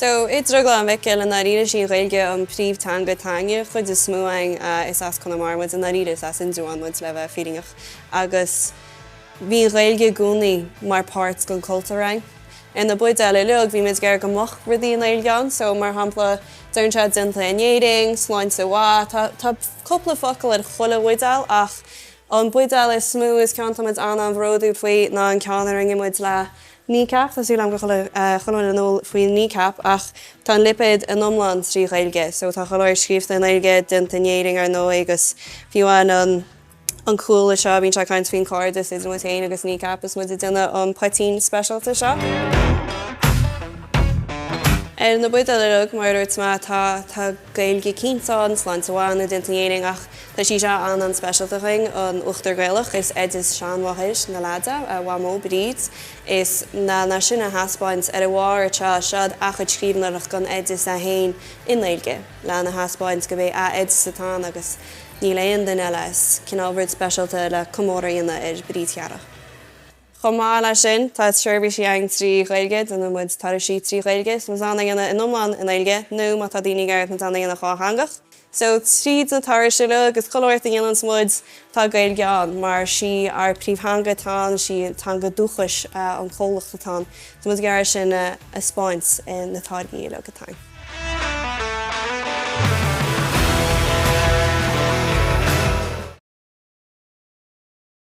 So, i nDrioglann Mhicil, i ndáiríre sí an Ghaeilge an príomhtheanga teanga an chuid is mó ann, is as Conamara muid, i ndáiríre is as Indreabhán muid le bheith fírinneach, agus bhí an Ghaeilge i gcónaí mar páirt den chultúr ann. Ar na buidéil uilig bhí muid ag iarraidh go mbeadh rudaí i nGaeilge ann, so, mar shampla, deireann sé déanta in Éirinn, sláinte mhaith, tá, tá cúpla focal ar chuile bhuidéal ach an buidéal is mó is an ceann atá muid an-an-bhródúil faoi ná an ceann a rinne muid le Kneecap, Tá súil agam go bhfuil chuile dhuine in iúl faoi Kneecap ach tá an lipéad in iomlán trí Ghaeilge so tá go leor scríobhta i nGaeilge déanta in Éirinn ar ndóigh agus fiú an an cúl anseo bíonn sé ag caint faoin cairdeas idir muid féin agus Kneecap is muid ag déanamh an poitín speisialta seo. Ar na buidéil uilig mar a dúirt mé tá tá. Gaeilge cinnte ann, sláinte mhaith, déanta in Éirinn ach tá sí seo an-an speisialta againn, an Uachtar Gaelach, is oideas seanmháthair na leads, a Mhamó Bríd, is lena sin a thaispeáint ar a bharr anseo, seo a chuid scríbhneoireacht den oideas é féin i nGaeilge, lena thaispeáint gurb é a hoideas atá ann agus níl aon duine eile is cineál rud speisialta le comóradh a dhéanamh ar Bríd chomh maith. Chomh maith leis sin, tá seirbhísí againn trí Ghaeilge, déanann muid turais trí Ghaeilge, is féidir linn iad a dhéanamh in iomlán i nGaeilge nó, má tá daoine ag iarraidh, is féidir linn iad a dhéanamh dhátheangach. So, tríd na turais seo agus go leor a dhéananns muid, tá Gaeilge ann mar sí ár príomhtheanga atá ann, sí an teanga dúchais an chomhlacht atá ann. Tá muid ag iarraidh é sin a thaispeáint i na táirgí uilig atá againn.